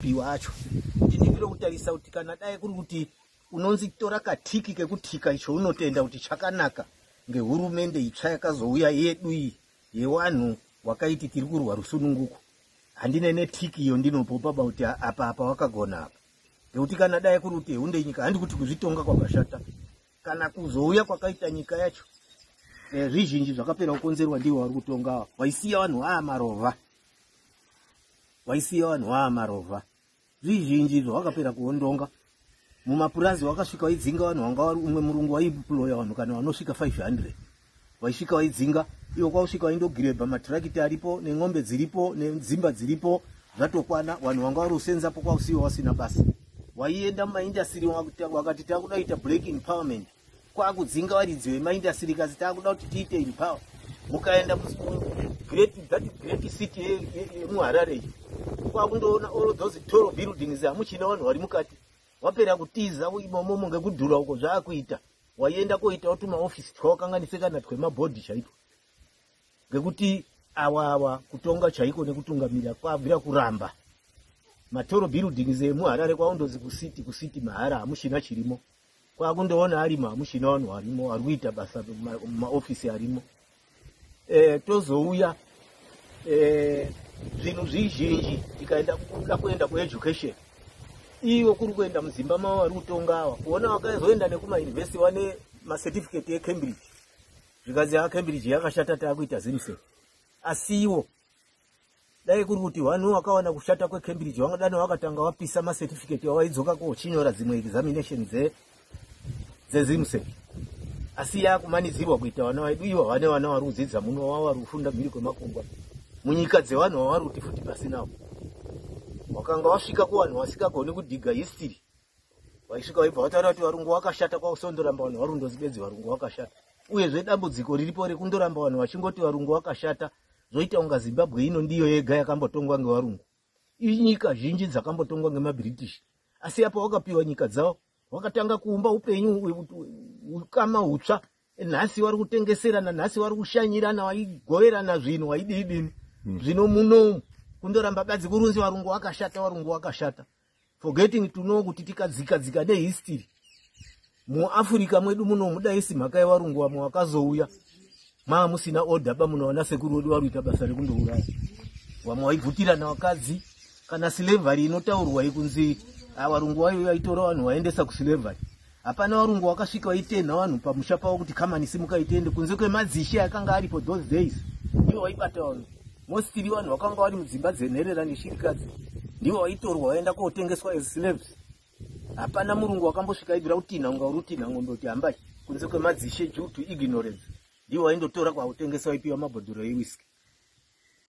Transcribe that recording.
Iwe acho ndinivire kutarisa kuti kana dai kuri kuti unonzi tora katiki kekutika icho unotenda kuti chakanaka ngehurumende itsva yakazouya yedu iyi yewanhu wakaiti tiri kurwa rusununguko handine netiki iyo ndinopopa ba kuti apa apa wakagona apa ngekuti kana dai kuri kuti hunde nyika handi kuti kuzvitonga kwakashata kana kuzouya kwakaita nyika yacho eh, zvizhinji zvakapera kukonzerwa ndiwo vari kutonga waisiya vanhu aa marova waisiya vanhu vaa marovha zvizhinji izvo wakapera kuondonga mumapurazi wakasvika waidzinga vanhu wanga wari umwe murungu waiploya vanhu kana vanosvika 500 waisvika waidzinga iwo kwausvika waindogirebha matirakiti aripo nen'ombe dziripo nedzimba dziripo zvatokwana vanhu vanga wari usenzapo kwausiwa wasina basa waienda mumaindastiri wakati takudaita black empowerment kwakudzinga varidzi vemaindastiri kasi takuda kuti tiite in power mukaenda great that great city yemuharare iyi kwakundoona all those tall buildings hamuchina vanhu vari mukati wapera kutiza imomomo ngekudhura uko zvaakuita waienda koitawo tumaofisi twawakanganise kana twemabhodhi chaitwa ngekuti awa awa kutonga chaiko nekutungamira kwabvira kuramba matoro buildings emuharare kwaundozi kucity kucity mahara hamuchina chirimo kwakundoona ari mamushina vanhu varimo vari kuita basa mumaofisi arimo e, tozouya e, zvinhu zvizhinji tikaenda kuda kuenda kueducation ivo kuri kuenda muzimba mavo vari kutonga ava kuona vakazoenda nekumauniversity vane macertificate ecambridge zvikanzi acambridge yakashata taakuita zimse asiwo dai kuri kuti wani wakawana kushata kwecambridge wangadani wakatanga wapisa macertificate wawaidzoka ko uchinyora dzimwe examination dzezimsec asi yakumanidzirwa kuita vana vaidu ivo vane vana vari kudzidza muno wavo vari kufunda mhiri kwemakungwa munyika dzevanhu vavari kuti futi pasinawo wakanga wasvika kuvanhu vasingagoni kudhiga history vaisvika vaibva vataura kuti varungu wakashata kwausondoramba vanhu varundozi bedzi varungu wakashata uyezve dambudziko riripo rekundoramba vanhu vachingoti varungu wakashata zvoita unga zimbabwe ino ndiyo yega yakambotongwa ngevarungu inyika zhinji dzakambotongwa ngemabritish asi apo wakapiwa nyika dzavo wakatanga kuumba upenyu ukama utsva nhasi vari kutengeserana nhasi vari kushanyirana waigoverana zvinhu waidii dini hmm. zvino munomu kundoramba badzi kurunzi varungu wakashata varungu wakashata forgetting to know kuti tikadzika dzika nehistory muafrica mwedu muno mudaisi mhaka yevarungu vamwe vakazouya maa musina order ba munoona sekuru wedu varuita basa rekundouraya vamwe vaibvutirana vakadzi kana slavery inotaurwa yekunzi avarungu ah, vayo vaitora vanhu vaendesa kuslavery Hapana varungu wakasvika waitenha vanhu pamusha pavo kuti kamani simuka itende kunze kwemadzishe akanga aripo those days ndivo vaibata vanhu mostili vanhu vakanga vari mudzimba dzenherera neshirikadzi ndivo vaitorwa vaenda kotengeswa as slaves hapana murungu wakambosvika aibvira kutinha unga uri kutinha ngombe kuti hambai kunze kwemadzishe due to ignorance ndivo vaindotora kwakutengeswa ipiwa mabhodhoro ewiski